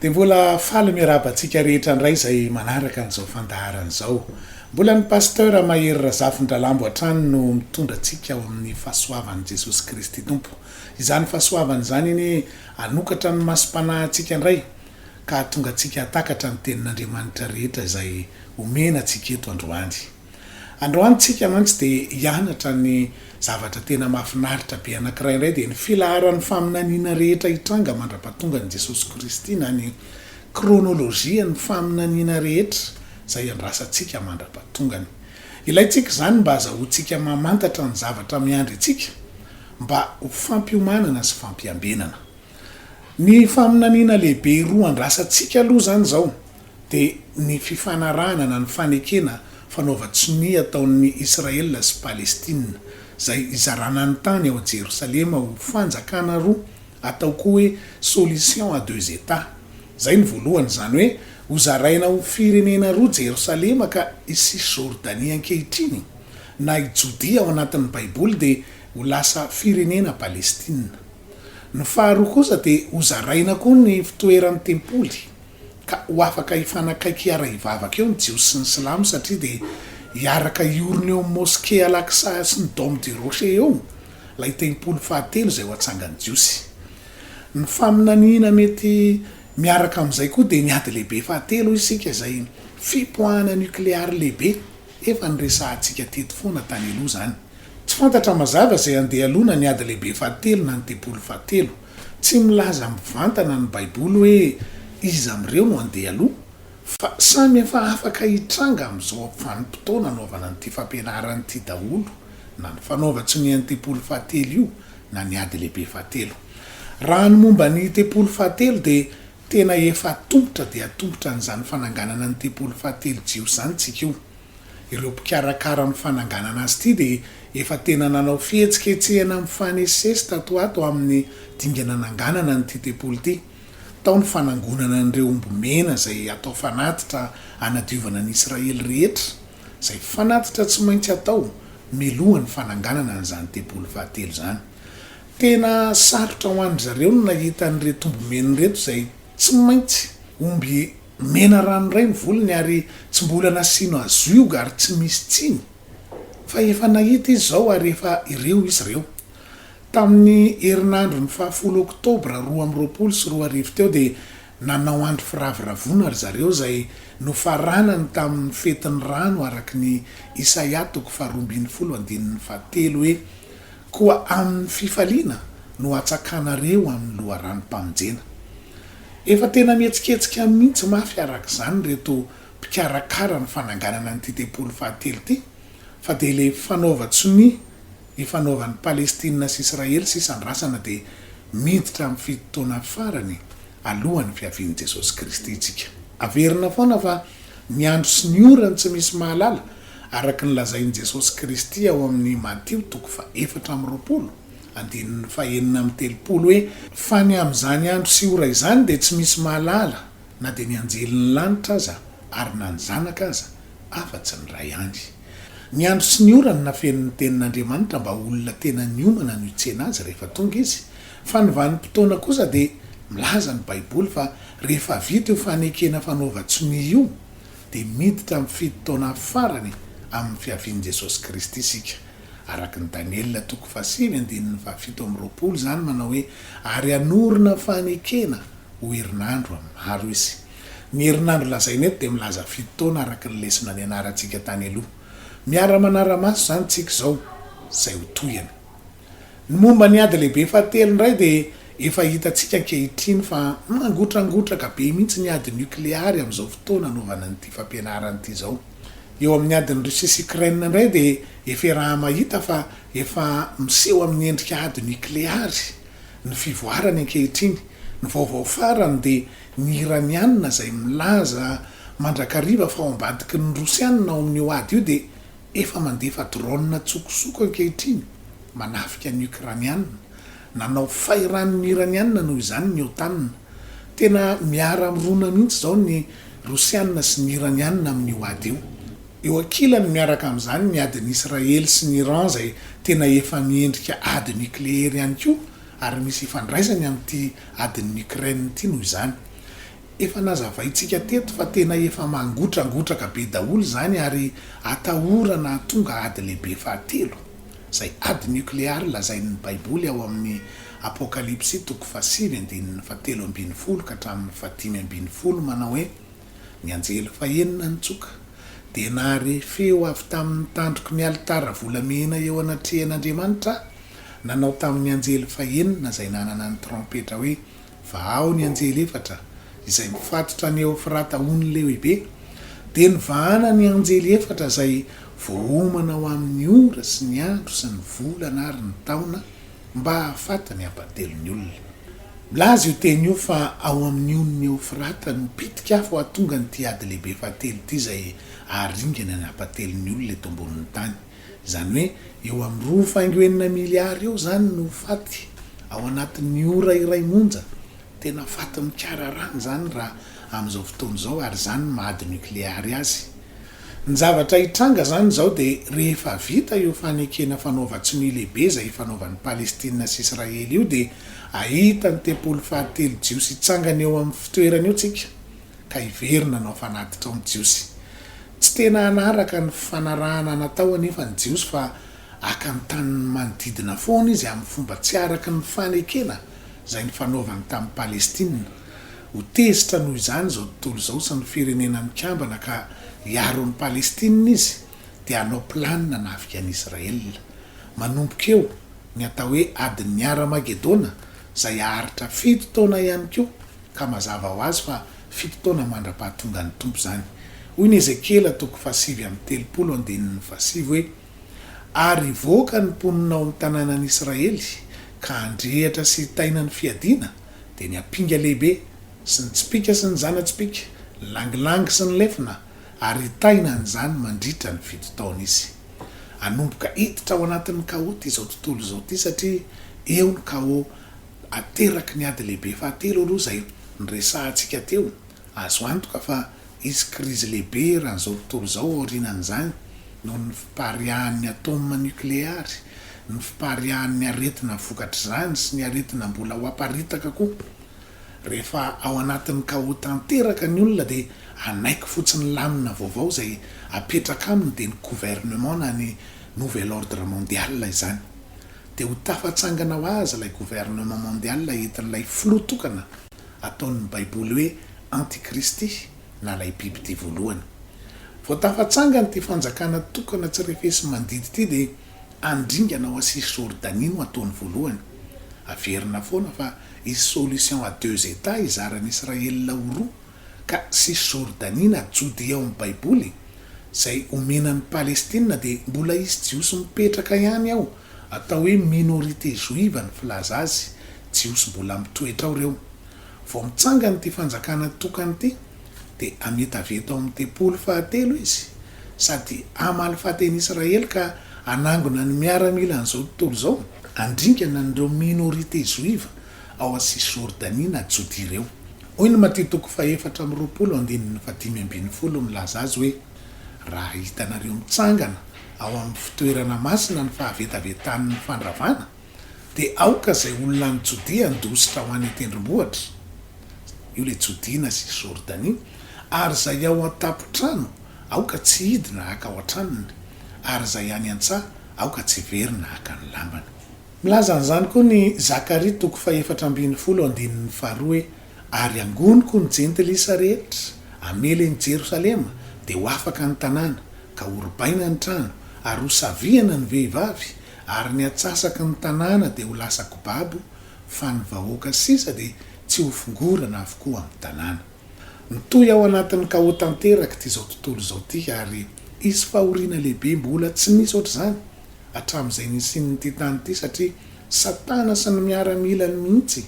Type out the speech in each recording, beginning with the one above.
Dia mbola faly miarahaba antsika rehetra indray izay manaraka an'izao fandaharana izao. Mbola ny Pasteur Mahery Razafindralambo hatrany no mitondra antsika ao amin'ny fahasoavan'i Jesosy Kristy Tompo. Izany fahasoavana izany anie hanokatra ny masom-panahintsika indray ka hahatonga antsika hahatakatra ny tenin'Andriamanitra rehetra izay omena antsika eto androany. Androany tsika mantsy dia hianatra ny zavatra tena mahafinaritra be anankiray indray dia ny filaharan'ny faminaniana rehetra hitranga mandra-pahatongan'i Jesosy Kristy na ny kronolojian'ny faminaniana rehetra izay iandrasantsika mandra-pahatongany. Ilaintsika izany mba hazahoantsika mamantatra ny zavatra miandry antsika mba ho fampiomanana sy fampiambenana. Ny faminaniana lehibe roa andrasantsika aloha izany izao dia ny fifanarahana na ny fanekena fanaovan-tsonia ataon'ny Israel sy Palestina, izay hizarana ny tany ao Jerosalema ho fanjakana roa, atao koa hoe solution à deux Etats. Izay ny voalohany, izany hoe hozaraina ho firenena roa Jerosalema ka i Cisjordanie ankehitriny, na i Jodia ao anatin'ny Baiboly dia ho lasa firenena Palestina. Ny faharoa kosa dia hozaraina koa ny fitoeran'ny tempoly. Ka ho afaka hifanakaiky hiara-hivavaka eo ny Jiosy sy ny Silamo satria dia hiaraka hiorina eo amin'ny Moske Al-Aqsa sy ny Dome du Rocher eo ilay tempoly fahatelo izay ho atsangan'ny Jiosy. Ny faminaniana mety miaraka amin'izay koa dia ny Ady Lehibe Fahatelo hoy isika izay fipoahana nukleary lehibe efa noresahantsika teto foana tany aloha izany. Tsy fantatra mazava izay handeha alohana ny Ady Lehibe Fahatelo na ny Tempoly Fahatelo. Tsy milaza mivantana ny Baiboly hoe iza amin'ireo no handeha aloha, fa samy efa afaka hitranga amin'izao vanim-potoana anaovana an'ity fampianarana ity daholo, na ny fanaovan-tsonian'ny tempoly fahatelo io, na ny ady lehibe fahatelo. Raha ny momba ny tempoly fahatelo, dia tena efa tompotra dia tompotra an'izany fananganana ny tempoly fahatelo jiosy izany isika io. ireo mpikarakara amin'ny fananganana azy ity dia efa tena nanao fihetsiketsehana mifanesisesy tato ho ato amin'ny dingana hananganana an'ity tempoly ity. Tao ny fanangonana an'ireo omby mena izay atao fanatitra hanadiovana ny Israely rehetra, izay fanatitra tsy maintsy atao mialoha ny fananganana an'izany tempoly fahatelo izany. Tena sarotra ho an-dry zareo ny nahita an'ireto omby mena ireto izay tsy maintsy omby Mena rano indray ny volony ary tsy mbola nasiano azioga ary tsy misy tsiny fa efa nahita izy izao ary efa ireo izy ireo. Tamin'ny herinandro ny fahafolo oktobra roa amby roapolo sy roa arivo teo dia nanao andro firavoravoana ry zareo izay nofaranany tamin'ny fetin'ny rano araka ny Isaia toko faharoa ambin'ny folo andininy fahatelo hoe Koa amin'ny fifaliana no hatsakanareo amin'ny loharanom-pamonjena Efa tena mihetsiketsika mihitsy mafy araka izany ireto mpikarakara ny fananganana an'ity tempoly fahatelo ity fa dia ilay fanaovan-tsonia ifanaovan'i Palestina sy Israely sy isandrasana dia miditra amin'ny fito taona farany alohan'ny fiavian'i Jesosy Kristy isika. Averina foana fa ny andro sy ny ora no tsy misy mahalala araka ny lazain'i Jesosy Kristy ao amin'ny Matio toko faha efatra amby roapolo Andininy fahenina amby telopolo hoe, Fa ny amin'izany andro sy ora izany dia tsy misy mahalala, na dia ny anjelin'ny lanitra aza, ary na ny Zanaka aza, afa-tsy ny Ray ihany. Ny andro sy ny ora no nafenin'ny Tenin'Andriamanitra mba ho olona tena niomana no hitsena Azy rehefa tonga Izy, fa ny vanim-potoana kosa dia milaza ny Baiboly fa rehefa vita io fanekena fanaovan-tsonia io dia miditra amin'ny fito taona farany amin'ny fiavian'i Jesosy Kristy isika. Araka ny Daniela toko fahasivy andininy fahafito amby roapolo izany manao hoe, Ary hanorina fanekena ho herinandro amin'ny maro izy. Ny herinandro lazaina eto dia milaza fito taona araka ny lesona nianarantsika tany aloha. Miara-manara-maso izany isika izao izay ho tohiny. Ny momba ny ady lehibe fahatelo indray dia efa hitantsika ankehitriny fa mangotrangotraka be mihitsy ny ady nokleary amin'izao fotoana anaovana an'ity fampianarana ity izao. Eo amin'ny adin'i Russie sy Ukraine indray dia efa iraha-mahita fa efa miseho amin'ny endrika ady nikleary ny fivoarany ankehitriny. Ny vaovao farany dia ny Iraniana izay milaza mandrakariva fa ao ambadiky ny Rosiana ao amin'io ady io dia efa mandefa drone an-tsokosoko ankehitriny manafika ny Ukrainiana Nanao fay rano ny Iraniana noho izany ny OTAN. Tena miara-mirona mihitsy izao ny Rosiana sy ny Iraniana amin'io ady io. Eo ankilany miaraka amin'izany ny adin'i Israely sy ny Iran izay tena efa miendrika ady nikleery ihany koa ary misy ifandraisany amin'ity adin'i Ukraine ity noho izany. Efa nazavaintsika teto fa tena efa mangotrangotraka be daholo izany ary atahorana hahatonga ady lehibe fahatelo, izay ady nokleary lazain'ny Baiboly ao amin'ny Apokalypsy toko fahasivy andininy fahatelo ambin'ny folo ka hatramin'ny fahadimy ambin'ny folo manao hoe, Ny anjely fahenina nitsoka, dia nahare feo avy tamin'ny tandroky ny alitara volamena eo anatrehan'Andriamanitra, nanao tamin'ny anjely fahenina izay nanana ny trompetra hoe, vahao ny anjely efatra izay mifatotra ny Eofrata ho ny lehibe, dia nivahana ny anjely efatra izay voaomana ho amin' ny ora sy ny andro sy ny volana ary ny taona, mba hahafaty ny hampatelo ny olona. Milaza io teny io fa ao amin' ny onin' ny Eofrata no pitika afo hahatonga an' ity ady lehibe fahatelo ity izay haharingana ny hampatelo ny olona eto ambonin' ny tany. Izany hoe eo amin'ny roa faingo enina miliara eo izany no faty ao anatin'ny ora iray monja. Tena faty mikararana izany raha amin'izao fotoana izao ary izany ny maha ady nokleary azy. Ny zavatra hitranga izany izao dia rehefa vita io fanekena fanaovan-tsonia lehibe izay ifanaovan'i Palestina sy Israely io dia hahita ny tempoly fahatelo jiosy hitsangana eo amin'ny fitoerany eo tsika. ka hiverina hanao fanatitra ao ny Jiosy. Tsy tena hanaraka ny fanarahana natao anefa ny Jiosy fa haka ny tanin'ny manodidina foana izy amin'ny fomba tsy araka ny fanekena izay nifanaovany tamin'i Palestina. Ho tezitra noho izany izao tontolo izao sy ny Firenena Mikambana ka hiaro an'i Palestina izy dia hanao planina hanafika an'i Israela. Manomboka eo ny atao hoe adin'ny Hara-magedona izay haharitra fito taona ihany koa. ka mazava ho azy fa fito taona mandra-pahatongan'ny Tompo izany. Hoy ny Ezekiela toko fahasivy amby telopolo andininy fahasivy hoe, Ary hivoaka ny mponina ao amin'ny tanànan'Israely, ka handrehitra sy hitaina ny fiadiana, dia ny ampinga lehibe, sy ny tsipìka sy ny zana-tsipìka, ny langilangy sy ny lefona, ary hitaina an'izany mandritra ny fito taona izy. Hanomboka hiditra ao anatin'ny kaoty izao tontolo izao ity, satria eo ny kaô. ateraky ny ady lehibe fahatelo aloha izay noresahantsika teo. Azo antoka fa hisy krizy lehibe eran'izao tontolo izao aorianan'izany noho ny fipariahan'ny ataoma nokleary, ny fipariahan'ny aretina vokatr'izany sy ny aretina mbola ho aparitaka koa. Rehefa ao anatin'ny kaô tanteraka ny olona dia hanaiky fotsiny ny lamina vaovao izay apetraka aminy dia ny gouvernement na ny nouvel ordre mondial izany. dia ho tafatsangana ho azy ilay gouvernement mondial entin'ilay filoha tokana ataon'ny baiboly hoe antikristy na ilay biby tia voalohany. Vao tafatsangana ity fanjakana tokana tsy refesi-mandidy ity dia handringana ao Asia sy Jordanie no ataony voalohany. Averina foana fa hisy solution à deux Etats hizaran'i Israël ho roa Ka Cisjordanie na Jodea ao amin'ny Baiboly, izay omena an'i Palestina, dia mbola hisy Jiosy mipetraka ihany ao, atao hoe minorité joive ny filaza azy, Jiosy mbola mitoetra ao ireo. Vao mitsangana ity fanjakana tokana ity, dia hamita avy eto amin'ny tempoly fahatelo izy, sady hamaly faty an'i Israely ka hanangona ny miaramila an'izao tontolo izao, handringana an'ireo minorité joive. ao amin'ny Sisjordania na Jodia ireo. Hoy ny Matio toko fahefatra amby roapolo andininy fahadimy ambin'ny folo milaza azy hoe, Raha hitanareo mitsangana ao amin'ny fitoerana masina ny fahavetavetan'ny fandravana, dia aoka izay olona any Jodia handositra ho any an-tendrombohitra, io ilay Jodia na Sisjordania, ary izay ao an-tampon-trano aoka tsy hidina haka ao an-tranony, ary izay any an-tsaha aoka tsy hiverina haka ny lambany. Milaza an'izany koa ny Zakaria toko fahefatra ambin'ny folo andininy faharoa hoe, Ary hangoniko ny jentilisa rehetra hamely an'i Jerosalema, dia ho afaka ny tanàna, ka horobaina ny trano, ary ho savihana ny vehivavy, ary ny atsasaky ny tanàna dia ho lasa kobabo, fa ny vahoaka sisa dia tsy ho fongorana avokoa amin'ny tanàna. Mitohy ao anatin'ny kaô tanterak'ity izao tontolo izao ity, ary hisy fahoriana lehibe mbola tsy nisy ohatr'izany hatramin'izay nisian'ity tany ity satria Satana sy ny miaramilany mihitsy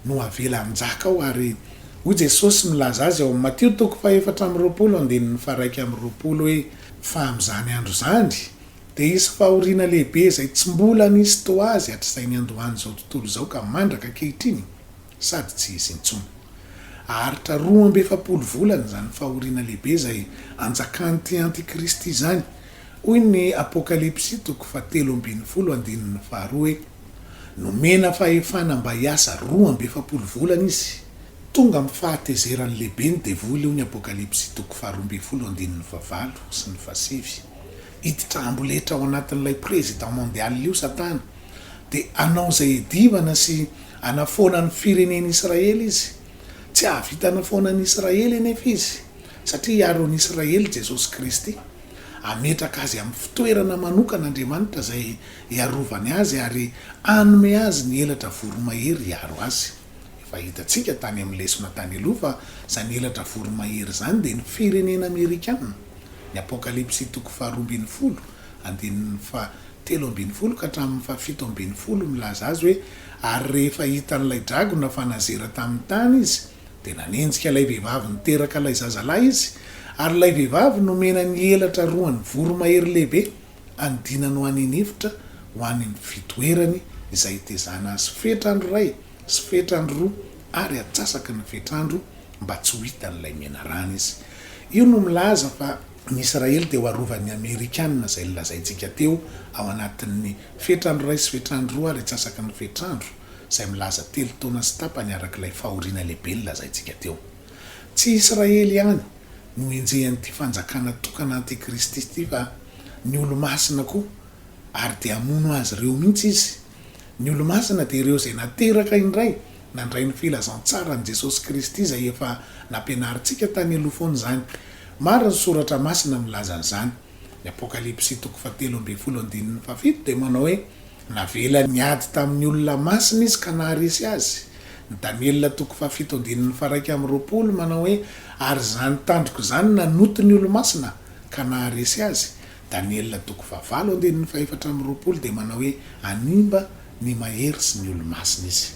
no avela hanjaka ao ary hoy Jesosy milaza azy ao amin'ny Matio toko fahefatra amby roapolo andininy faharaika amby roapolo hoe fa amin'izany andro izany dia hisy fahoriana lehibe izay tsy mbola nisy toa azy hatr'izay niandohan'izao tontolo izao ka mandraka ankehitriny sady tsy hisy intsony. Haharitra roa amby efapolo volana izany fahoriana lehibe izay anjakan'ity antikristy izany. Hoy ny Apokalypsy toko fahatelo ambin'ny folo andininy faharoa hoe, Nomena fahefana mba hiasa roa amby efapolo volana izy. Tonga amin'ny fahatezerany lehibe ny devoly, hoy ny Apokalypsy toko faharoa ambin'ny folo andininy fahavalo sy ny fahasivy. hiditra amboletra ao anatin'ilay Président Mondial io Satana, dia hanao izay hiadivana sy hanafoana ny firenen'Israely izy. Tsy hahavita hanafoana an'i Israely anefa izy, satria hiaro an'i Israely Jesosy Kristy. Hametraka azy amin'ny fitoerana manokana Andriamanitra izay hiarovany azy ary hanome azy ny elatra voromahery hiaro azy. Efa hitantsika tany amin'ny lesona tany aloha fa izany elatra voromahery izany dia ny firenena amerikana. Ny Apokalypsy toko faharoa ambin'ny folo, andininy fahatelo ambin'ny folo ka hatramin'ny fahafito ambin'ny folo milaza azy hoe, Ary rehefa hitan'ilay dragona fa nazera tamin'ny tany izy, dia nanenjika ilay vehivavy niteraka ilay zazalahy izy, ary ilay vehivavy nomena ny elatra roan'ny voromahery lehibe. Anodinany ho any an'efitra ho any amin'ny fitoerany izay hitezana azy fetr'andro iray sy fetr'andro roa ary atsasaky ny fetr'andro mba tsy ho hitan'ilay menarana izy. Io no milaza fa ny Israely dia ho arovan'ny Amerikana izay nolazaintsika teo ao anatin'ny fetr'andro iray sy fetr'andro roa ary atsasaky ny fetr'andro izay milaza telo taona sy tapany arak'ilay fahoriana lehibe nolazaintsika teo. Tsy Israely ihany no henjehan'ity fanjakana tokana antikristy ity fa ny olo-masina koa, ary dia hamono azy ireo mihitsy izy. Ny olo-masina dia ireo izay nateraka indray nandray ny filazantsaran'i Jesosy Kristy izay efa nampianarintsika tany aloha foana izany. Maro ny soratra masina milaza an'izany. Ny Apokalypsy toko fahatelo ambin'ny folo andininy fahafito dia manao hoe. Navelany niady tamin'ny olona masina izy ka naharesy azy. Ny Daniela toko fahafito andininy faharaika amby roapolo manao hoe, Ary izany tandroko izany nanoti ny olomasina, ka naharesy azy. Daniela toko fahavalo andininy fahefatra amby roapolo dia manao hoe, Hanimba ny mahery sy ny olomasina izy.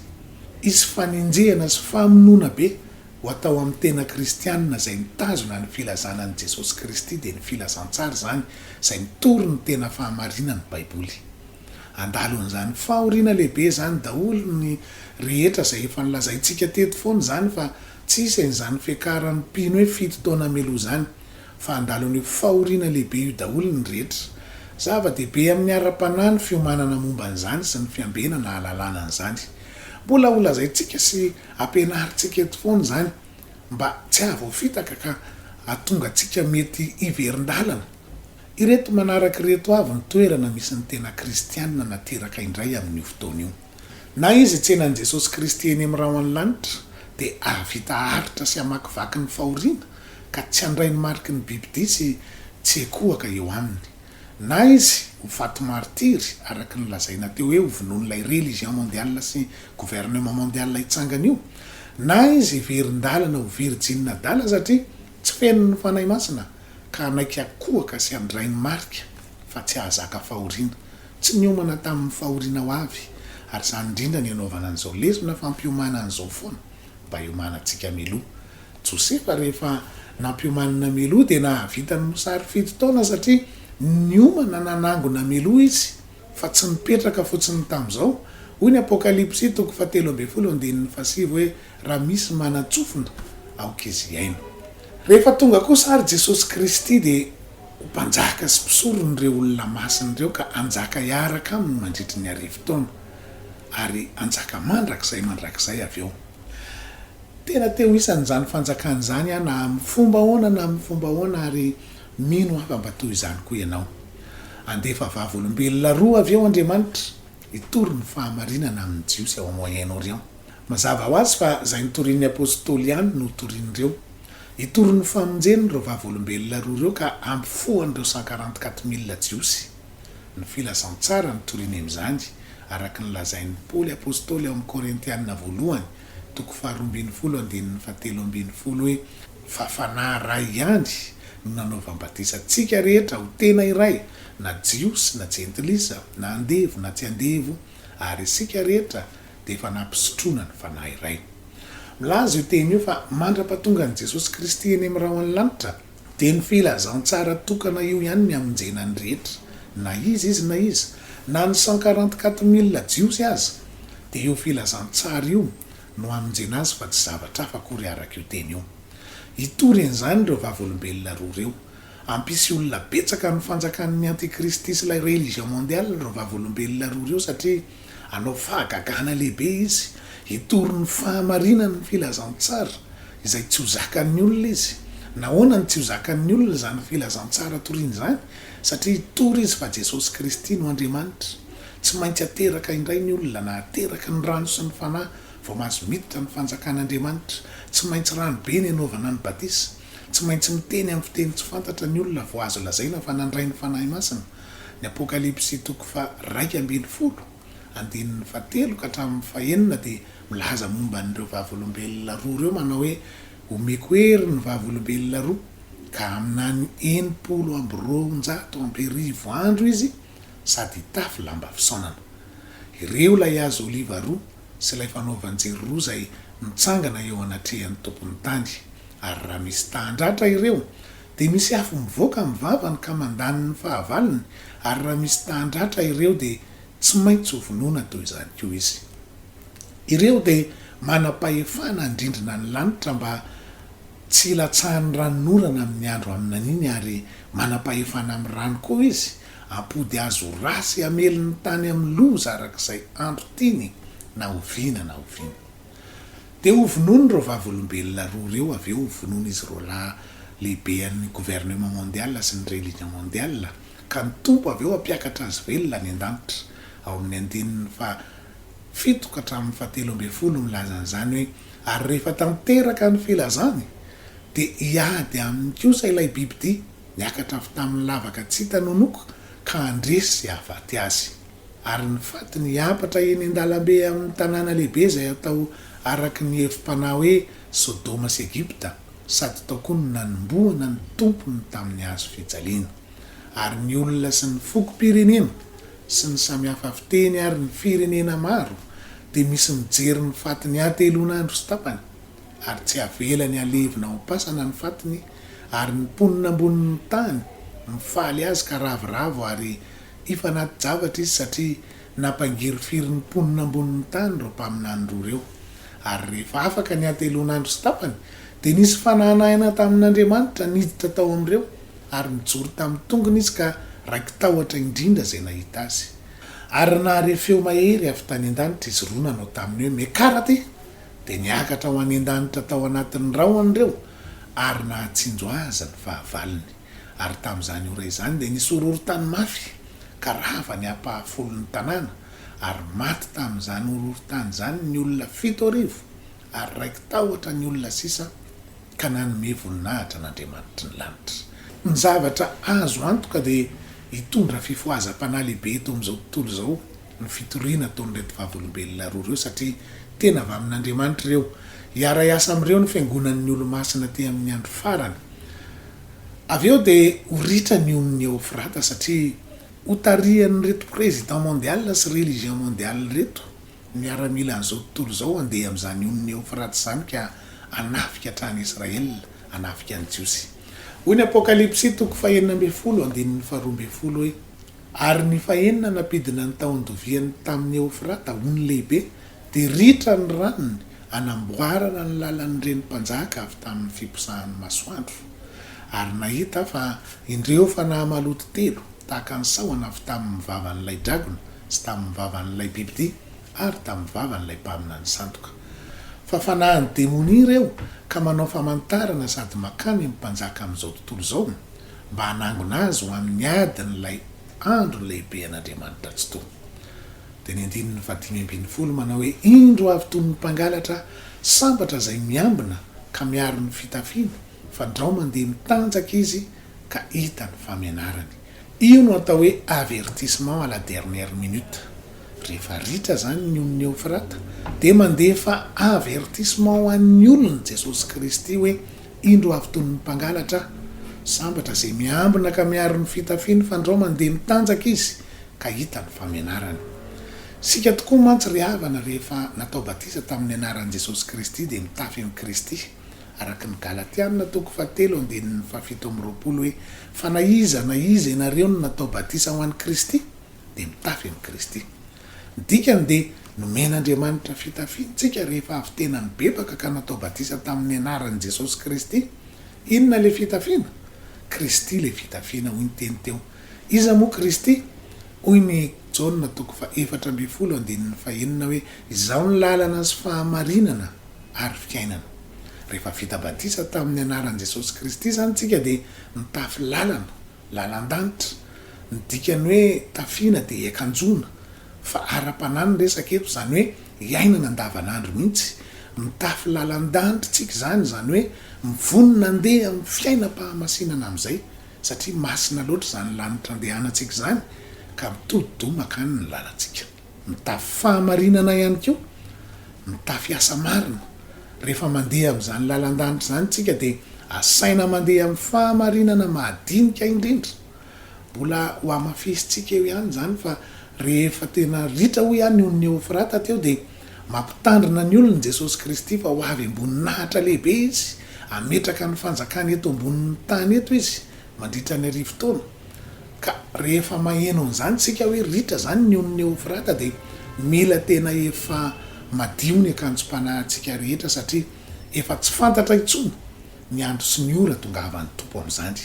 Hisy fanenjehana sy famonoana be ho atao amin'ny tena kristianina izay mitazona ny filazana an'i Jesosy Kristy dia ny filazantsara izany izay mitory ny tena fahamarinan'ny Baiboly. Andalin'izany fahoriana lehibe izany daholo ny rehetra izay efa nolazaintsika teto foana izany fa tsy hisy an'izany fiakaran'ny mpino hoe fito taona mialoha izany fa andalin'io fahoriana lehibe io daholo ny rehetra. Zava-dehibe amin'ny ara-panahy ny fiomanana momba an'izany sy ny fiambenana hahalalana an'izany. Mbola holazaintsika sy Ampianarintsika eto foana izany mba tsy hahavoafitaka ka hahatonga antsika mety hiverin-dalana. Ireto manaraka ireto avy ny toerana misy ny tena kristiana nateraka indray amin'io fotoana io. Na izy hitsena an'i Jesosy Kristy eny amin'ny rahon'ny lanitra dia hahavita haharitra sy hamakivaky ny fahoriana ka tsy handray ny mariky ny bibi-dia sy tsy ekohaka eo aminy. Na izy ho faty martiry, araka ny lazaina teo hoe ho vonoin'ilay religion mondiale sy gouvernement mondiale hitsangana io, na izy heverin-dalana ho virjiny adala satria tsy feno ny Fanahy Masina ka hanaiky hakohaka sy handray ny marika fa tsy hahazaka fahoriana. Tsy niomana tamin'ny fahoriana ho avy, ary izany indrindra no hanaovana an'izao lesona fampiomana an'izao foana mba hiomanantsika mialoha Josefa rehefa nampiomanina Meloa dia nahavita ny mosary fito taona satria niomana nanangona Meloa izy fa tsy nipetraka fotsiny tamin'izao. Hoy ny Apokalypsy toko fahatelo ambin'ny folo andininy fahasivy hoe raha misy manan-tsofina aoka izy hihaino. Rehefa tonga kosa ary Jesosy Kristy dia ho mpanjaka sy mpisoron'ireo olona masina ireo ka hanjaka hiaraka aminy mandritry ny arivo taona ary hanjaka mandrakizay mandrakizay avy eo. Tena te ho isan'izany fanjakana izany aho na amin'ny fomba ahoana na amin'ny fomba ahoana ary mino aho fa mba toy izany koa ianao. Handefa vavolombelona roa avy eo Andriamanitra hitory ny fahamarinana amin'ny Jiosy ao Moyen-Orient. Mazava ho azy fa izay notorian'ny apostoly ihany no hotorian'ireo. Hitory ny famonjeny ireo vavolombelona roa ireo ka hampifohan'ireo sankarantikat mille Jiosy. Ny filazantsara no toriany amin'izany, araka ny lazain'i Paoly apostoly ao amin'ny Korintiana voalohany, toko faharoa ambin'ny folo andininy fahatelo ambin'ny folo hoe, Fa Fanahy iray ihany no nanaovany batisa antsika rehetra ho tena iray, na Jiosy na Jentilisa, na andevo na tsy andevo, ary isika rehetra dia efa nampisotroina ny Fanahy iray. Milaza io teny io fa mandra-pahatongan'i Jesosy Kristy eny amin'ny rahon'ny lanitra, Dia ny filazantsara tokana io ihany ny hamonjena ny rehetra, na iza izy na iza, na ny cent quarante quatre mille jiosy aza, dia io filazantsara io no hamonjena azy fa tsy zavatra hafa akory araka io teny io. Hitory an'izany ireo vavolombelona roa ireo. Hampisy olona betsaka amin'ny fanjakan'ny antikristy sy ilay religion mondiale ireo vavolombelona roa ireo satria. Hanao fahagagana lehibe izy, hitory ny fahamarinany ny filazantsara, izay tsy ho zakan'ny olona izy. Nahoana no tsy ho zakan'ny olona izany filazantsara toriany izany? Satria hitory izy fa Jesosy Kristy no Andriamanitra. Tsy maintsy hateraka indray ny olona, na hateraka ny rano sy ny Fanahy, vao mahazo miditra ny fanjakan'Andriamanitra. Tsy maintsy rano be ny hanaovana ny batisa. Tsy maintsy miteny amin'ny fiteny tsy fantatra ny olona vao azo lazaina fa nandray ny Fanahy Masina. Ny Apokalypsy toko faha-iraika ambin'ny folo, andininy fahatelo ka hatramin'ny fahenina dia milaza momba an'ireo vavolombelona roa ireo manao hoe, Omeko hery ny vavolombelona roa, ka aminany enimpolo amby roanjato amby arivo andro izy sady hitafy lamba fisaonana. Ireo ilay hazo oliva roa sy ilay fanaovan-jiro roa izay mitsangana eo anatrehan'ny Tompon'ny tany, ary raha misy tahan-dratra ireo, Dia misy afo mivoaka amin'ny vavany ka mandany ny fahavalony, ary raha misy tahan-dratra ireo dia tsy maintsy ho vonoina toy izany koa izy. Ireo dia manam-pahefana handrindrina ny lanitra mba tsy hilatsahan'ny ranonorana amin'ny andro haminaniany ary manam-pahefana amin'ny rano koa izy hampody azy ho ra sy hamely ny tany amin'ny loza arak'izay andro tiany na oviana na oviana. Dia hovonoiny ireo vavolombelona roa ireo avy eo hovonoiny izy roalahy lehibe an'ny gouvernement mondial sy ny religion mondial ka ny Tompo avy eo hampiakatra azy velona any an-danitra ao amin'ny andininy faha fito ka hatramin'ny faha telo ambin'ny folo milaza an'izany hoe ary rehefa tanteraka ny filazany dia hiady aminy kosa ilay bibidia niakatra avy tamin'ny lavaka tsy hita nonoko ka handresy sy hahavaty azy. ary ny fatiny hiampatra eny an-dalambe amin'ny tanàna lehibe izay atao araka ny hevi-panahy hoe Sodoma sy Egypta, sady tao koa no nanombohana ny tompony tamin'ny hazo fijaliana. Ary ny olona sy ny fokom-pirenena sy ny samihafa fiteny ary ny firenena maro dia misy mijery ny fatiny hatelon'andro sy tapany, ary tsy havelany halevina ao am-pasana ny fatiny, ary ny mponina ambonin'ny tany mifaly azy ka ravoravo ary Efa anaty javatra izy satria nampangirifiry ny mponina ambonin'ny tany ireo mpaminany roa ireo. Ary rehefa afaka ny hatelon'andro sy tapany, dia nisy fanahanahina tamin'Andriamanitra niditra tao amin'ireo, ary nijoro tamin'ny tongony izy ka raiki-tahotra indrindra izay nahita azy. Ary nahare feo mahery avy tany an-danitra izy roa nanao taminy hoe, Mekarate! Dia niakatra ho any an-danitra tao anatin'ny rahona ireo, ary nahatsinjo azy ny fahavalony. Ary tamin'izany ora izany dia nisy horohorontany mafy, ka rava ny ampahafolon'ny tanàna, ary maty tamin'izany horohorontany izany ny olona fito arivo, ary raiki-tahotra ny olona sisa, ka nanome voninahitra an'Andriamanitry ny lanitra. Ny zavatra azo antoka dia hitondra fifohazam-panahy lehibe eto amin'izao tontolo izao ny fitoriana ataon'ireto Vavolombelona roa ireo, satria tena avy amin'Andriamanitra ireo. Hiara-hiasa amin'ireo ny fiangonan'ny Olomasina aty amin'ny andro farany. Avy eo dia ho ritra ny onin'i Eofrata satria ho tarihan'ireto président mondial sy religion mondial ireto miaramila an'izao tontolo izao handeha amin'izany onin'i Eofrata izany ka hanafika hatrany Israël, hanafika ny Jiosy. Hoy ny Apokalypsy toko fahenina ambin'ny folo andininy faharoa ambin'ny folo hoe, Ary ny fahenina nampidina ny tahon-doviany tamin'i Eofrata, ony lehibe, Dia ritra ny ranony hanamboarana ny lalan'ireny mpanjaka avy tamin'ny fiposahan'ny masoandro. Ary nahita aho fa indreo fanahy maloto telo, tahaka ny sahona avy tamin'ny vavan'ilay dragona, sy tamin'ny vavan'ilay bibidia, ary tamin'ny vavan'ilay mpaminany sandoka. Fa fanahin'ny demonia ireo, ka manao famantarana sady makany amin'ny mpanjaka amin'izao tontolo izao, mba hanangona azy ho amin'ny adin'ilay andro lehibe an'Andriamanitra Tsitoha. dia ny andininy fahadimy ambin'ny folo manao hoe, Indro avy toy ny mpangalatra sambatra izay miambina ka miaro ny fitafiny, fandrao mandeha mitanjaka izy ka hita ny famenarany. Io no atao hoe avertissement à la dernière minute. Rehefa ritra izany ny ony Eofrata dia mandefa avertissement ho an'ny olony Jesosy Kristy hoe, Indro avy toy ny mpangalatra sambatra izay miambina ka miaro ny fitafiny fandrao mandeha mitanjaka izy ka hita ny famenarany. Isika tokoa mantsy ry havana rehefa natao batisa tamin'ny anaran'i Jesosy Kristy dia mitafy an'i Kristy araka ny Galatiana toko faha telo andininy faha fito amby roapolo hoe fa na iza na iza ianareo no natao batisa ho an'i Kristy dia mitafy an'i Kristy. Ny dikany dia nomen'Andriamanitra fitafiana tsika rehefa avy tena nibebaka ka natao batisa tamin'ny anaran'i Jesosy Kristy. Inona ilay fitafiana? Kristy ilay fitafiana hoy ny teny teo. Iza moa Kristy? Hoy ny Jaona toko faha efatra ambin'ny folo andininy faha enina hoe Izaho ny lalana sy fahamarinana ary fiainana. Rehefa vita batisa tamin'ny anaran'i Jesosy Kristy izany tsika dia mitafy lalana. lalan-danitra. Ny dikan'ny hoe tafiana dia hiakanjoana fa ara-panahy ny resaka eto, izany hoe iainana andavanandro mihitsy. Mitafy lalan-danitra tsika izany, izany hoe mivonona handeha amin'ny fiainam-pahamasinana amin'izay, satria masina loatra izany lanitra andehanantsika izany ka mitodi-doha mankany ny lalantsika. Mitafy fahamarinana ihany koa, mitafy asa marina. Rehefa mandeha amin'izany lalan-danitra izany isika dia asaina mandeha amin'ny fahamarinana mahadinika indrindra. Mbola hohamafisintsika eo ihany izany fa rehefa tena ritra hoy aho ny ony Neofrata teo dia mampitandrina ny olony Jesosy Kristy fa ho avy am-boninahitra lehibe Izy, hametraka ny fanjakany eto ambonin'ny tany eto Izy mandritra ny arivo taona, ka rehefa maheno an'izany isika hoe ritra izany ny onin'i Eofrata dia mila tena efa madio ny akanjom-panahintsika rehetra satria efa tsy fantatra intsony ny andro sy ny ora tongahavan'ny Tompo amin'izany.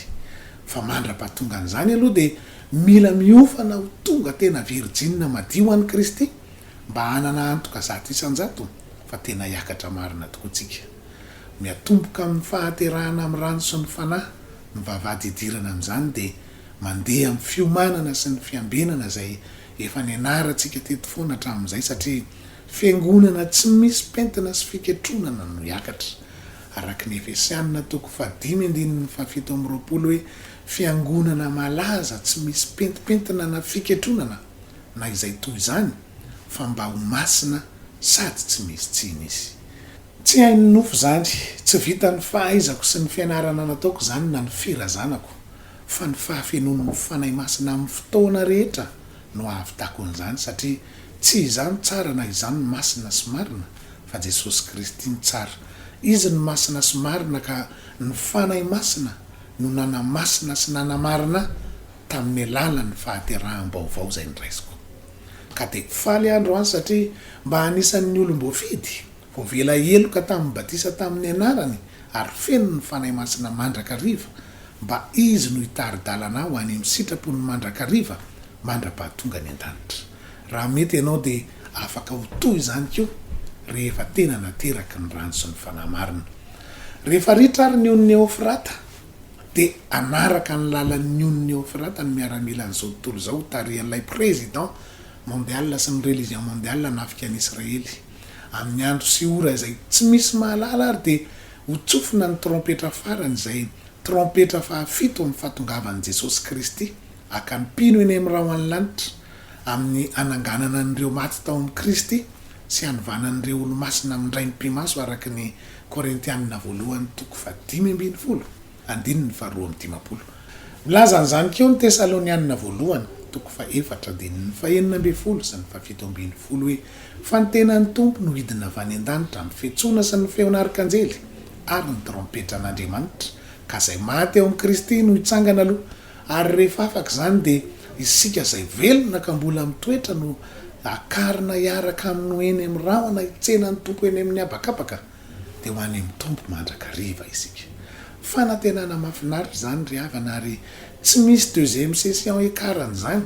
Fa mandra-pahatongan'izany aloha dia mila miofana ho tonga tena virjinina madio an'i Kristy mba hanana antoka zato isan-jato fa tena hiakatra marina tokoa tsika. Miatomboka amin'ny fahaterahana amin'ny rano sy ny Fanahy ny vavahady hidirana amin'izany dia mandeha amin'ny fiomanana sy ny fiambenana izay efa nianarantsika teto foana hatramin'izay satria fiangonana tsy misy pentina sy fiketronana no hiakatra araka ny Efesianina toko fahadimy andininy fahafito amby roapolo hoe fiangonana malaza tsy misy pentimpentina na fiketronana na izay toy izany fa mba ho masina sady tsy misy tsiny izy Tsy hain'ny nofo izany, tsy vitan'ny fahaizako sy ny fianarana nataoko izany na ny firazanako, fa ny fahafenoan'ny Fanahy Masina amin'ny fotoana rehetra no ahavitako an'izany, satria tsy izaho no tsara na izaho no masina sy marina, fa Jesosy Kristy no tsara. Izy no masina sy marina ka ny Fanahy Masina no nanamasina sy nanamarina ahy tamin'ny alalan'ny fahateraham-baovao izay noraisiko. Ka dia faly aho androany satria mba anisan'ny olom-boafidy. Voavela heloka tamin'ny batisa tamin'ny anarany ary feno ny Fanahy Masina mandrakariva, mba Izy no hitari-dalana ho any amin'ny sitrapony mandrakariva mandra-pahatonga any an-danitra. Raha mety ianao dia afaka ho toa izany koa rehefa tena nateraky ny rano sy ny Fanahy Marina. Rehefa ritra ary ny onin'i Eofrata, dia hanaraka ny lalan'ny onin'i Eofrata ny miaramilan'izao tontolo izao ho tarihan'ilay Président mondial sy ny religion mondial hanafika an'i Israely. Amin'ny andro sy ora izay tsy misy mahalala ary dia ho tsofina ny trompetra farany izay trompetra fahafito amin'ny fahatongavan'i Jesosy Kristy haka ny mpino eny amin'ny rahon'ny lanitra amin'ny hananganana an'ireo maty tao amin'i Kristy sy hanovanan'ireo olomasina amin-draim-pimaso araka ny Korintianina voalohany toko fahadimy ambin'ny folo. Andininy faharoa amby dimampolo. Milaza an'izany koa ny Tesalonianina Voalohany, toko fahefatra, andininy fahenina ambin'ny folo sy ny fahafito ambin'ny folo hoe, Fa ny tenan'ny Tompo no hidina avy any an-danitra amin'ny fihetsona sy ny feon'ny arkanjely ary ny trompetran'Andriamanitra, ka izay maty ao amin'i Kristy no hitsangana aloha, ary rehefa afaka izany dia isika izay velona ka mbola mitoetra no hakarina hiaraka aminy ho eny amin'ny rahona hitsena ny Tompo eny amin'ny habakabaka. dia ho any amin'ny Tompo mandrakariva isika. Fanantenana mahafinaritra izany ry havana ary tsy misy deuxième session hiakaran'izany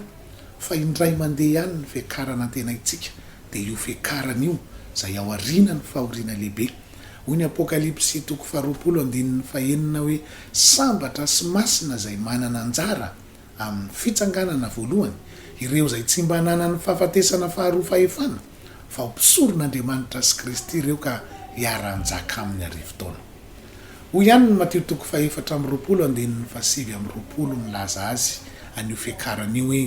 fa indray mandeha ihany ny fiakarana antenaintsika dia io fiakarana io izay aoriana ny fahoriana lehibe. Hoy ny Apokalypsy toko faharoapolo andininy fahenina hoe sambatra sy masina izay manana anjara amin'ny fitsanganana voalohany, ireo izay tsy mba nanan'ny fahafatesana faharoa fahefana, fa ho mpisoron'Andriamanitra sy Kristy ireo ka hiara-hanjaka Aminy arivo taona. Hoy ihany ny Matio toko fahefatra amby roapolo andininy fahasivy amby roapolo milaza azy an'io fiakarana io hoe,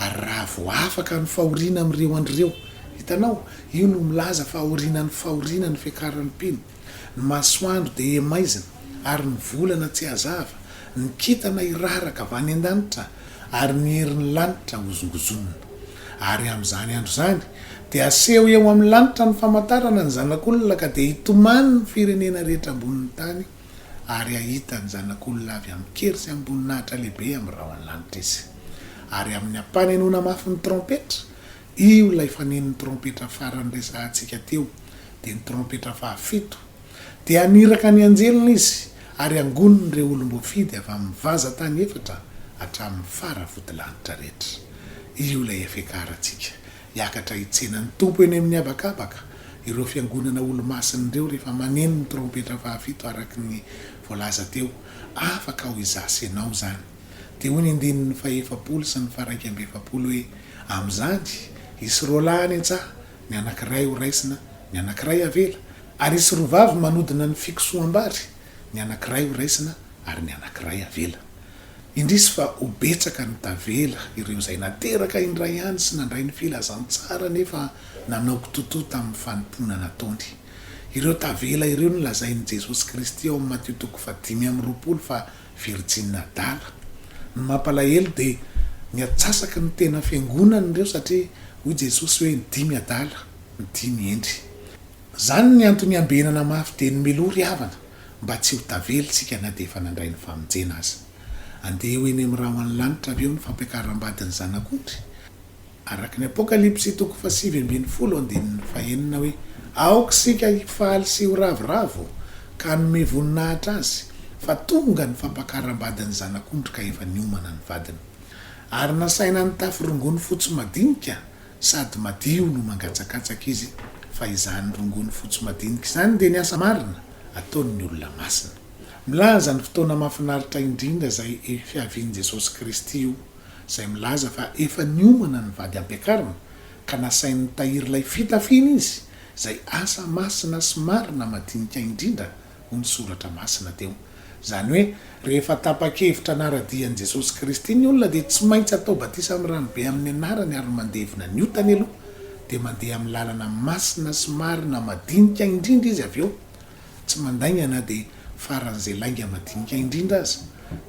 Ary raha vao afaka ny fahoriana amin'ireo andro ireo. Hitanao? Io no milaza fa aorianan'ny fahoriana ny fiakaran'ny mpino. Ny masoandro dia hemaizina ary ny volana tsy hazava, ny kintana hiraraka avy any an-danitra ary ny herin'ny lanitra hozongozonina. Ary amin'izany andro izany dia haseho eo amin'ny lanitra ny famantarana ny Zanak'Olona ka dia hitomany ny firenena rehetra ambonin'ny tany ary hahita ny Zanak'Olona avy amin-kery sy amim-boninahitra lehibe amin'ny rahon'ny lanitra izy. Ary amin'ny hampanenoana mafy ny trompetra Io ilay fanenin'ny trompetra farany resahantsika teo, dia ny trompetra fahafito. Dia haniraka ny anjeliny izy, ary hangoniny ireo olom-boafidy avy amin'ny vaza tany efatra hatramin'ny fara vodilanitra rehetra. Io ilay efekarantsika, hiakatra hitsena ny Tompo eny amin'ny habakabaka, ireo fiangonana olo-masina ireo rehefa maneno ny trompetra fahafito araka ny voalaza teo, afaka ho izaho sy ianao izany. Dia hoy ny andininy fahefapolo sy ny faharaika amby efapolo hoe, Amin'izany, hisy roa lahy any an-tsaha, ny anankiray ho raisina, ny anankiray havela, ary hisy roa vavy manodina ny fikosoham-bary, ny anankiray ho raisina ary ny anankiray havela. Indrisy fa ho betsaka ny tavela, ireo izay nateraka indray ihany sy nandray ny filazantsara nefa nanao kitotoa tamin'ny fanompoana nataony. Ireo tavela ireo no lazain'i Jesosy Kristy ao amin'ny Matio toko fahadimy amby roapolo fa Virjiny adala. Ny mampalahelo dia ny atsasaky ny tena fiangonana ireo satria hoy Jesosy hoe ny dimy adala, ny dimy hendry. Izany ny antony iambenana mafy dia ny miloha ry havana mba tsy ho tavela isika na dia efa nandray ny famonjena aza. Andeha ho eny amin'ny rahona ny lanitra avy eo ny fampiakaram-badin'ny Zanak'ondry. Araka ny Apokalypsy toko fahasivy ambin'ny folo andininy fahenina hoe, Aoka isika hifaly sy ho ravoravo ka hanome voninahitra Azy, fa tonga ny fampakaram-badin'ny Zanak'ondrika efa niomana ny vadiny. Ary nasaina nitafy rongony fotsy madinika sady madio no mangatsakatsaka izy, fa izany rongony fotsy madinika izany dia ny asa marina ataon'ny olona masina. Milaza ny fotoana mahafinaritra indrindra izay fiavian'i Jesosy Kristy io. izay milaza fa efa niomana ny vady ampiakarina ka nasainy nitahiry ilay fitafiany izy, izay asa masina sy marina madinika indrindra hoy ny Soratra Masina teo. Izany hoe rehefa tapa-kevitra hanara-dia an'i Jesosy Kristy ny olona dia tsy maintsy atao batisa amin'ny ranobe amin'ny anarany ary mandevina ny otany aloha dia mandeha amin'ny lalana masina sy marina madinika indrindra izy avy eo Tsy mandainga na dia faran'izay lainga madinika indrindra aza.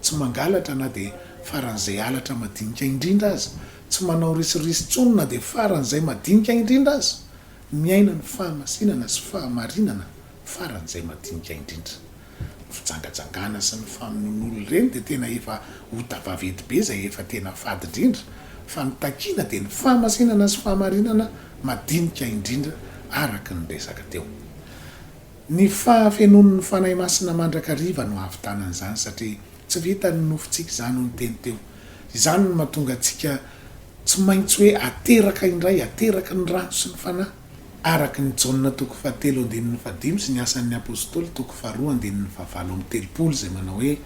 Tsy mangalatra na dia faran'izay halatra madinika indrindra aza. Tsy manao risoriso intsony na dia faran'izay madinika indrindra aza. Miaina ny fahamasinana sy fahamarinana faran'izay madinika indrindra. Ny fijangajangana sy ny famonoan'olon-dreny dia tena efa ota vaventy be izay efa tena fady indrindra fa ny takiana dia ny fahamasinana sy fahamarinana madinika indrindra araka ny resaka teo. Ny fahafenoan'ny Fanahy Masina mandrakariva no ahavitana an'izany, satria tsy vitan'ny nofontsika izany, hoy ny teny teo. Izany no mahatonga antsika tsy maintsy hoe ateraka indray, ateraky ny rano sy ny Fanahy, araka ny Jaona toko fahatelo andininy fahadimy sy ny Asan'ny Apostoly toko faharoa andininy fahavalo amby telopolo izay manao hoe,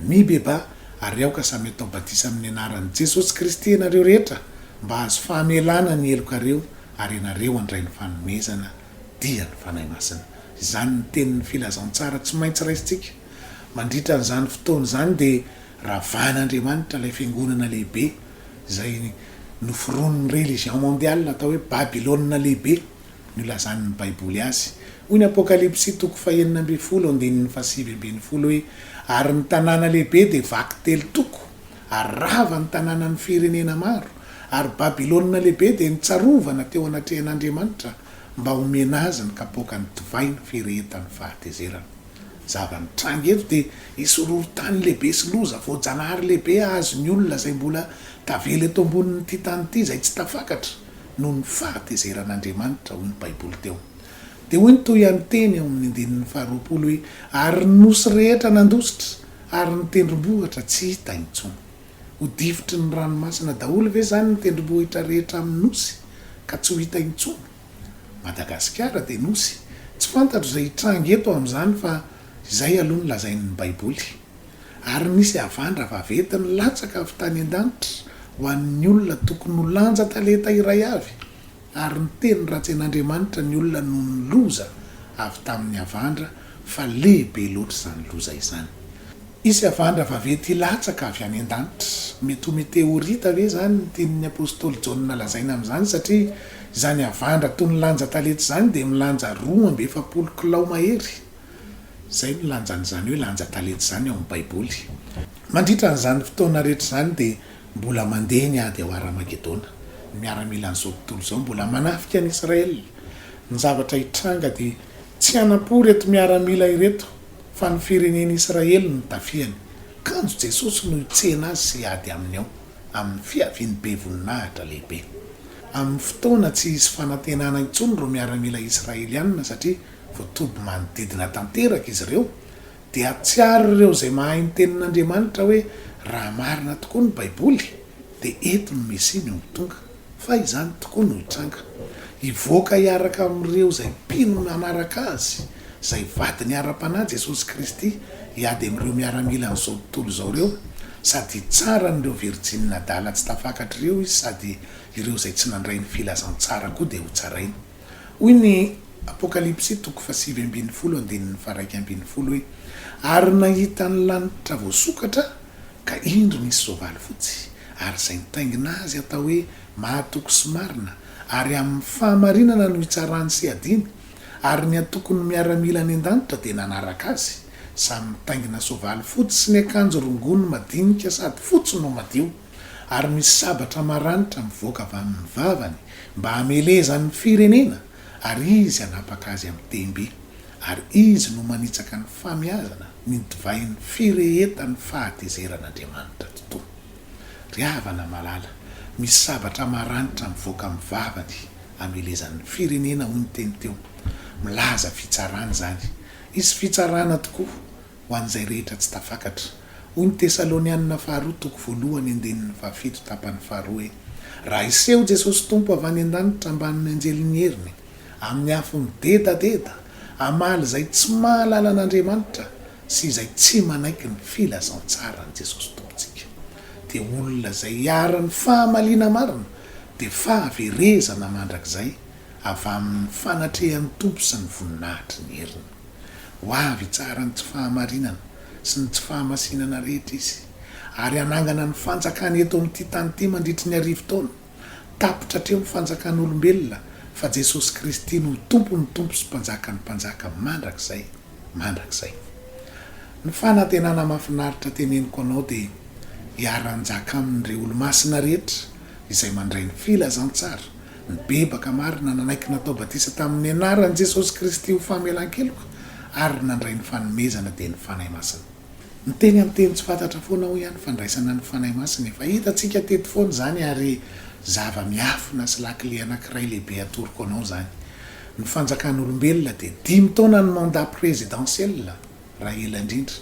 Mibebaha, ary aoka samy atao batisa amin'ny anaran'i Jesosy Kristy ianareo rehetra mba hahazo fahamelana ny helokareo, ary ianareo handray ny fanomezana. dia ny Fanahy Masina. Izany ny tenin'ny filazantsara tsy maintsy raisintsika. Mandritra an'izany fotoana izany dia ravahan'Andriamanitra ilay fiangonana lehibe izay noforonin'ny religion mondiale atao hoe Babylona Lehibe no ilazan'ny Baiboly azy. Hoy ny Apokalypsy toko fahenina ambin'ny folo andininy fahasivy ambin'ny folo hoe, Ary ny tanàna lehibe dia vaky telo toko, ary rava ny tanànan'ny firenena maro, ary Babylona Lehibe dia nitsarovana teo anatrehan'Andriamanitra mba homena azy ny kapoakan'ny divay ny firehetan'ny fahatezerana. Ny zava-nitranga eto dia hisy horohorontany lehibe sy loza voajanahary lehibe hahazo ny olona izay mbola tavela eto ambonin'ity tany ity izay tsy tafakatra noho ny fahatezeran'Andriamanitra, hoy ny Baiboly teo. Dia hoy ny tohian'ny teny ao amin'ny andininy faharoapolo hoe, Ary ny nosy rehetra nandositra, Ary ny tendrombohitra tsy hita intsony. Ho difotry ny ranomasina daholo ve izany ny tendrombohitra rehetra amin'ny nosy ka tsy ho hita intsony? Madagasikara dia nosy. Tsy fantatro izay hitranga eto amin'izany fa izay aloha no lazain'ny Baiboly. Ary nisy havandra vaventy nilatsaka avy tany an-danitra ho an'ny olona tokony ho lanja talenta iray avy. Ary niteny ratsy an'Andriamanitra ny olona noho ny loza avy tamin'ny havandra, fa lehibe loatra izany loza izany. Hisy havandra vaventy hilatsaka avy any an-danitra. Mety ho meteorita ve izany ny tian'ny apostoly Jaona lazaina amin'izany, satria izany havandra toy ny lanja talenta izany dia milanja roa amby efapolo kilao mahery? Izay no lanjan'izany hoe lanja talenta izany ao amin'ny Baiboly. Mandritra an'izany fotoana rehetra izany dia Mbola mandeha ny ady ao Hara-magedona. Ny miaramilan'izao tontolo izao mbola manafika an'i Israel. Ny zavatra hitranga dia tsy hanam-po ireto miaramila ireto fa ny firenen'i Israel no tafihany. Kanjo Jesosy no hitsena azy sy hiady aminy ao amin'ny fiaviany be voninahitra lehibe. Amin'ny fotoana tsy hisy fanantenana intsony ireo miaramila Israeliana satria voatoby manodidina tanteraka izy ireo Dia hahatsiaro ireo izay mahay ny Tenin'Andriamanitra hoe raha marina tokoa ny Baiboly, dia eto ny Mesia no ho tonga, fa izany tokoa no hitranga. Hivoaka hiaraka amin'ireo izay mpino nanaraka Azy, izay vadiny ara-panahy, Jesosy Kristy, hiady amin'ireo miaramilan'izao tontolo izao ireo, sady hitsara an'ireo virjinina adala tsy tafakatra ireo Izy, sady ireo izay tsy nandray ny Filazantsara koa dia hotsarainy. Hoy ny Apokalypsy toko fahasivy ambin'ny folo andininy faharaika ambin'ny folo hoe, Ary nahita ny lanitra voasokatra aho, ka indro nisy soavaly fotsy, ary izay nitaingina azy hatao hoe Mahatoky sy Marina, ary amin'ny fahamarinana no hitsarany sy hiadiany, ary ny antokon'ny miaramila any an-danitra dia nanaraka azy, samy mitaingina soavaly fotsy sy niakanjo rongony madinika sady fotsy no madio. ary misy sabatra maranitra mivoaka avy amin'ny vavany mba hamelezany ny firenena ary izy hanapaka azy amin'ny tehim-by ary izy no manitsaka ny famiazana ny divain'ny firehetan'ny fahatezeran'Andriamanitra totoa. Ry havana malala, misy sabatra maranitra mivoaka amin'ny vavany hamelezany ny firenena hoy ny teny teo. Milaza fitsarana izany. Hisy fitsarana tokoa. ho an'izay rehetra tsy tafakatra. Hoy ny Tesalonianina Faharoa toko voalohany andininy fahafito tapany faharoa hoe, Raha hiseho Jesosy Tompo avy any an-danitra ambanin'ny anjelin'ny heriny, amin'ny afo midedadeda, hamaly izay tsy mahalala an'Andriamanitra sy izay tsy manaiky ny filazantsaran'i Jesosy Tompontsika, dia olona izay iharan'ny fahamaliana marina, dia fahaverezana mandrakizay avy amin'ny fanatrehan'ny Tompo sy ny voninahitry ny heriny. Ho avy hitsara ny tsy fahamarinana sy ny tsy fahamasinana rehetra Izy, ary hanangana ny fanjakany eto amin'ity tany ity mandritry ny arivo taona. Tapitra hatreo ny fanjakan'olombelona, fa Jesosy Kristy no ho Tompon'ny tompo sy Mpanjakan'ny mpanjaka mandrakizay mandrakizay. Ny fanantenana mahafinaritra teneniko anao dia hiara-hanjaka aminy ireo Olomasina rehetra izay mandray ny filazantsara, Nibebaka marina, nanaiky natao batisa tamin'ny anaran'i Jesosy Kristy ho famelan-keloka ary nandray ny fanomezana dia ny Fanahy Masina. Miteny amin'ny teny tsy fantatra foana aho ihany fandraisana ny Fanahy Masina, efa hitantsika teto foana izany ary zava-miafina sy lakile anankiray lehibe atoroko anao izany. Ny fanjakan'olombelona dia dimy taona ny mandat présidentiel. raha ela indrindra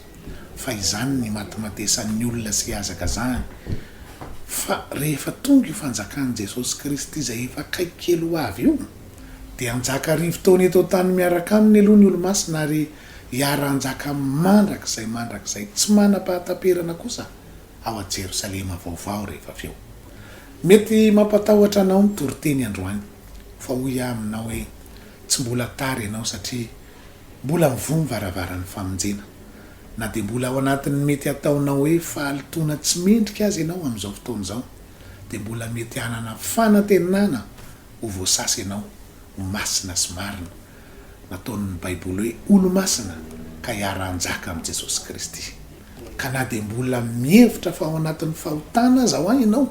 fa izany ny matimatesan'ny olona sy hazakazahany fa rehefa tonga io fanjakan'i Jesosy Kristy izay efa akaiky kely ho avy io dia hanjaka arivo taona eto an-tany miaraka aminy aloha ny olomasina ary hiara-hanjaka mandrakizay mandrakizay tsy manam-pahataperana kosa ao Jerosalema vaovao rehefa avy eo. Mety mampatahotra anao ny toriteny androany fa hoy aho aminao hoe tsy mbola tara ianao satria Mbola mivoha ny varavaran'ny famonjena. Na dia mbola ao anatin'ny mety hataonao hoe fahalotoana tsy mendrika aza ianao amin'izao fotoana izao, dia mbola mety hanana fanantenana ho voasasa ianao ho masina sy marina, nataon'ny Baiboly hoe olo-masina, ka hiara-hanjaka amin'i Jesosy Kristy. Ka na dia mbola mihevitra fa ao anatin'ny fahotana aza ho'a ianao,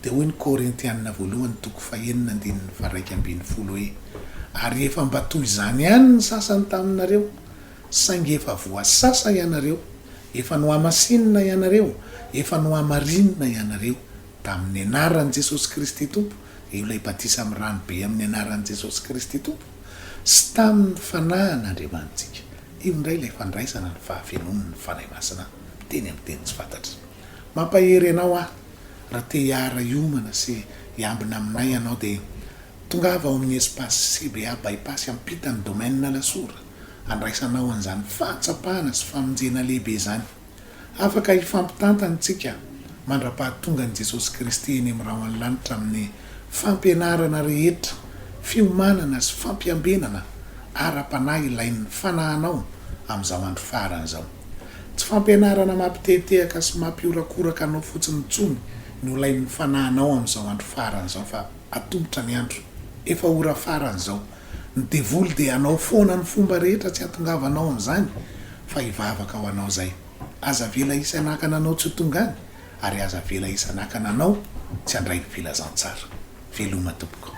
dia hoy ny Korintiana voalohany toko fahenina andininy faharaika ambin'ny folo hoe, Ary efa mba toy izany ihany ny sasany taminareo, saingy efa voasasa ianareo, efa nohamasinina ianareo, efa nohamarinina ianareo, tamin'ny anaran'i Jesosy Kristy Tompo, eo ilay batisa amin'ny ranobe amin'ny anaran'i Jesosy Kristy Tompo, sy tamin'ny Fanahin'Andriamanitsika. Io indray ilay fandraisana ny fahafenoan' ny Fanahy Masina miteny amin'ny teny tsy fantatra. Mampahery anao aho, raha te hiara-hiomana sy hiambina aminay ianao dia tongava ao amin'ny espace CBA Bypass ampitan'ny Domaine Alasora handraisanao an'izany fahatsapana sy famonjena lehibe izany. Afaka hifampitantana isika mandra-pahatongan'i Jesosy Kristy eny amin'ny rahon'ny lanitra amin'ny fampianarana rehetra, fiomanana sy fampiambenana ara-panahy ilain'ny fanahinao amin'izao andro farany izao. Tsy fampianarana mampitehatehaka sy mampihorakoraka anao fotsiny intsony no ilain'ny fanahinao amin'izao andro farany izao fa atolotra ny andro, efa ora farany izao Ny devoly dia hanao foana ny fomba rehetra tsy hatongavanao amin'izany fa hivavaka ho anao izay. Aza avela hisy hanakana anao tsy ho tonga any ary aza avela hisy hanakana anao tsy handray ny filazantsara. Veloma tompoko.